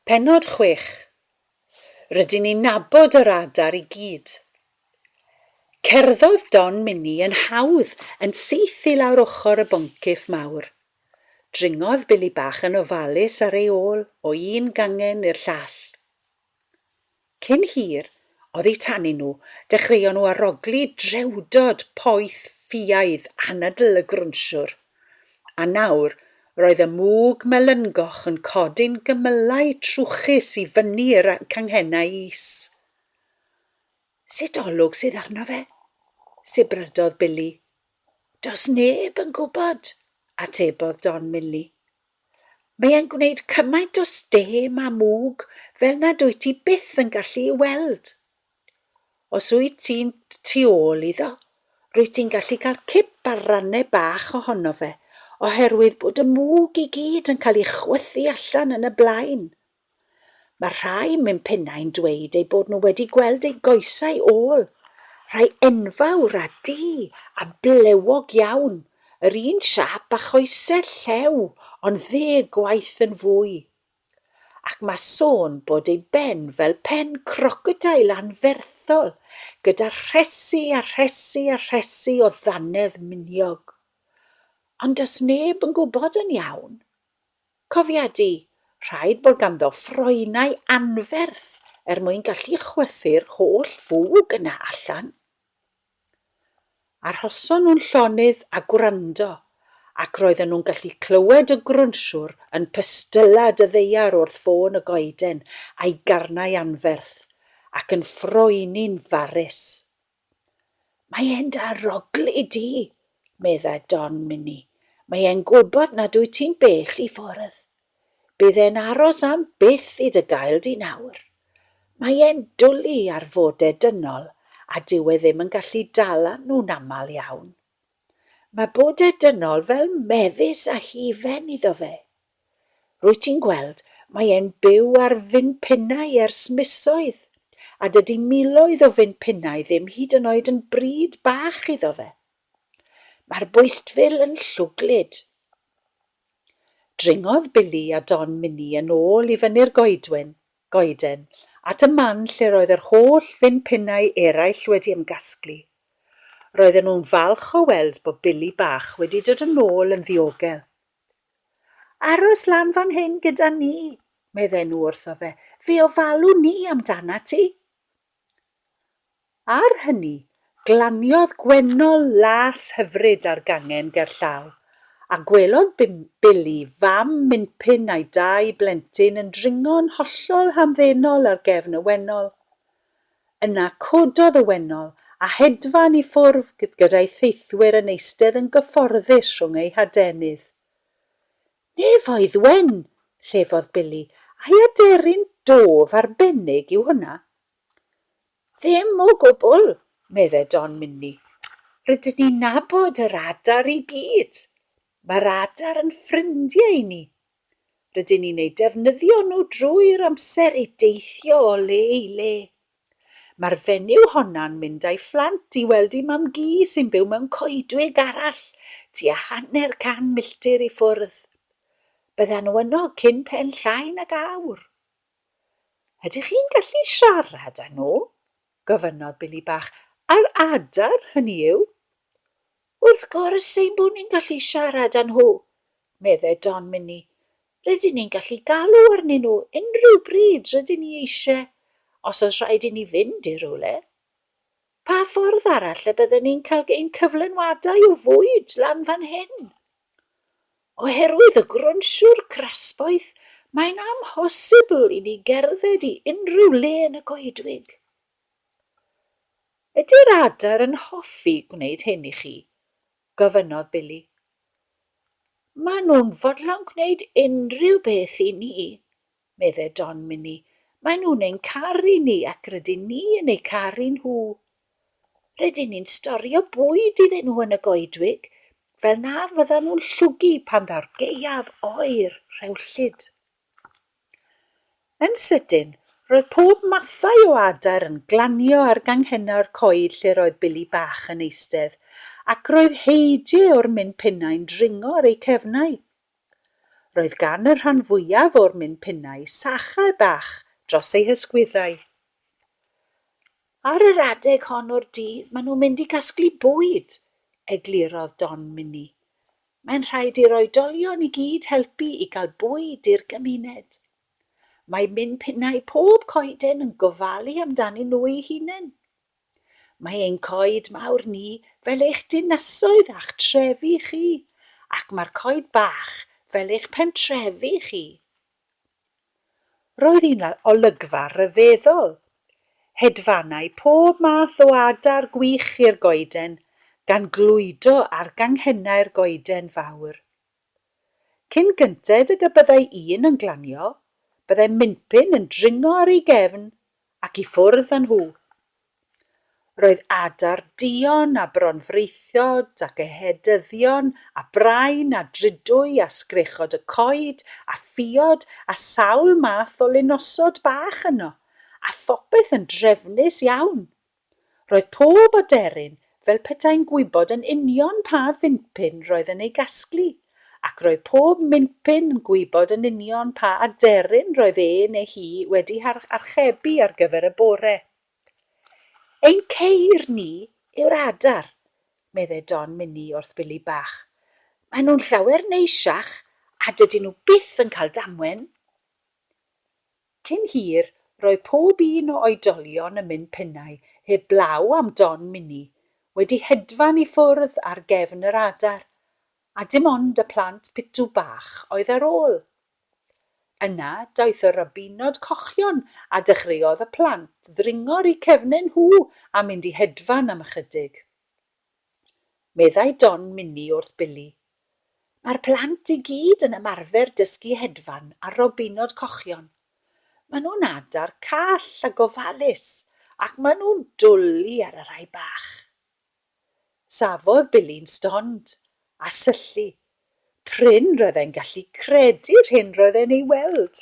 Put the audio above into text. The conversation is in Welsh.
Pennod chwech. Rydyn ni'n nabod yr adar i gyd. Cerddodd Don Minnie yn hawdd yn syth i lawr ochr y boncyff mawr. Dringodd Billy Bach yn ofalus ar ei ôl o un gangen i'r llall. Cyn hir, oddi tanyn nhw, dechreuon nhw arogli drewdod poeth ffiaidd anadl y grwnsiwr. A nawr, roedd y mwg melyngoch yn codi'n gymylau trwchus i fyny i'r canghennau is. Sut olwg sydd arno fe? sibrydodd Billy. Does neb yn gwybod, atebodd Don Milly. Mae e'n gwneud cymaint o stêm a mwg fel nad wyt ti byth yn gallu ei weld. Os wyt ti'n tu ôl iddo, rwyt ti'n gallu cael cip ar rannau bach ohono fe, oherwydd bod y mwg i gyd yn cael ei chwythu allan yn y blaen. Mae rhai mewn pennau'n dweud eu bod nhw wedi gweld eu goesau ôl, rhai enfawr a du a blewog iawn, yr un siâp â choesau'r llew ond ddeg gwaith yn fwy. Ac mae sôn bod ei ben fel pen crocodeil anferthol gyda rhesi a rhesi a rhesi o ddannedd miniog. Ond does neb yn gwybod yn iawn. Cofiadi, rhaid bod ganddo ffroenau anferth er mwyn gallu chwythu'r holl fwg yna allan. Arhoson nhw'n llonydd a gwrando, ac roedden nhw'n gallu clywed y grwnsiwr yn pystyllad y ddaear wrth ffôn y goeden a'i garnau anferth, ac yn ffroeni'n farus. Mae e'n da rogl i di, medda Don Minnie. Mae e'n gwybod nad wyt ti'n bell i ffwrdd. Bydd e'n aros am byth i dy gael di nawr. Mae e'n dwli ar fode dynol a dyw e ddim yn gallu dala nhw'n aml iawn. Mae bode dynol fel mefus a hufen iddo fe. Rwyt ti'n gweld, mae e'n byw ar fin pinnau ers misoedd, a dydy miloedd o fin pinnau ddim hyd yn oed yn bryd bach iddo fe. Mae'r bwystfil yn llwglyd. Dringodd Billy a Don Minnie yn ôl i fyny'r goedwyn, goeden, at y man lle roedd yr holl fin pinnau eraill wedi ymgasglu. Roedden nhw'n falch o weld bod Billy bach wedi dod yn ôl yn ddiogel. Aros lan fan hyn gyda ni, meddai nhw wrtho fe, fe ofalwn ni amdanat ti. Ar hynny, glaniodd Gwennol las hyfryd ar gangen gerllaw, a gwelodd Billy fam Minpin a'i dau blentyn yn dringo'n hollol hamddenol ar gefn y wennol. Yna cododd y wennol, a hedfan i ffwrf gyda'i theithwyr yn eistedd yn gyfforddus rhwng eu hadenydd. Nefoedd wen! llefodd Billy, ai aderyn dôf arbennig yw hwnna? Ddim o gwbl, medde Don Minni. Rydyn ni'n nabod yr adar i gyd. Mae'r adar yn ffrindie i ni, Rydyn ni'n eu defnyddio nhw drwy'r amser i deithio o le i le. Mae'r fenyw honno'n mynd â'i phlant i weld ei mam-gu sy'n byw mewn coedwig arall tua hanner can milltir i ffwrdd. Byddan nhw yno cyn pen llai nag awr. Ydych chi'n gallu siarad â nhw? gofynnodd Billy Bach. A'r adar, hynny yw? Wrth gwrs ein bod ni'n gallu siarad â nhw, meddai Don Minnie. Rydyn ni'n gallu galw arnyn nhw unrhyw bryd rydyn ni eisiau, os oes rhaid i ni fynd i rywle. Pa ffordd arall y bydden ni'n cael ein cyflenwadau o fwyd lan fan hyn? Oherwydd y grwnsiwr crasboeth, mae'n amhosibl i ni gerdded i unrhyw le yn y goedwig. Ydy'r adar yn hoffi gwneud hyn i chi? gofynnodd Billy. Maen nhw'n fodlon gwneud unrhyw beth i ni, meddai Don Minnie. Maen nhw'n ein caru ni ac rydyn ni yn eu caru nhw. Rydyn ni'n storio bwyd iddyn nhw yn y goedwig, fel na fyddan nhw'n llwgu pan ddaw'r gaeaf oer rhewllyd. Yn sydyn, roedd pob mathau o adar yn glanio ar ganghennau'r coed lle roedd Billy bach yn eistedd, ac roedd Heije o'r min pinnau'n dringo ar eu cefnau. Roedd gan y rhan fwyaf o'r min pinnau sachau bach dros eu hysgwyddau. Ar yr adeg hon o'r dydd maen nhw'n mynd i gasglu bwyd, eglurodd Don Minnie. Mae'n rhaid i'r oedolion i gyd helpu i gael bwyd i'r gymuned. Mae Min Pinnau Pob Coeden yn gofalu amdanyn nhw eu hunain. Mae ein coed mawr ni fel eich dinasoedd a'ch trefi chi, ac mae'r coed bach fel eich pentrefi chi. Roedd hi'n olygfa ryfeddol, hedfannau pob math o adar gwych i'r goeden, gan glwydo ar ganghennau'r goeden fawr. Cyn gynted ag y byddai un yn glanio, byddai Minpin yn dringo ar ei gefn ac i ffwrdd â nhw. Roedd adar duon a bronfraethod ac ehedyddion a brain a drudwy a sgrechod y coed a ffiod a sawl math o linosod bach yno, a phopeth yn drefnus iawn. Roedd pob aderyn fel petai'n gwybod yn union pa fincpin roedd yn ei gasglu, ac roedd pob mincpin yn gwybod yn union pa aderyn roedd e neu hi wedi archebu ar gyfer y bore. Ein ceir ni yw'r adar, meddai Don Mini wrth Billy Bach. Maen nhw'n llawer neisiach a dydyn nhw byth yn cael damwen. Cyn hir, roedd pob un o oedolion yn mynd pennau heb blaw am Don Mini, wedi hedfan i ffwrdd ar gefn yr adar, a dim ond y plant pitw bach oedd ar ôl. Yna, daeth y rybinod cochion a dechreuodd y plant ddringo 'r u cefnen nhw a mynd i hedfan am ychydig. meddai Don Mini wrth Billy. Mae'r plant i gyd yn ymarfer dysgu hedfan ar robinod cochion. Maen nhw'n adar call a gofalus ac maen nhw'n dwli ar y rhai bach. Safodd Billy'n stond a syllu. Prin roedd e'n gallu credu'r hyn roedd e'n ei weld.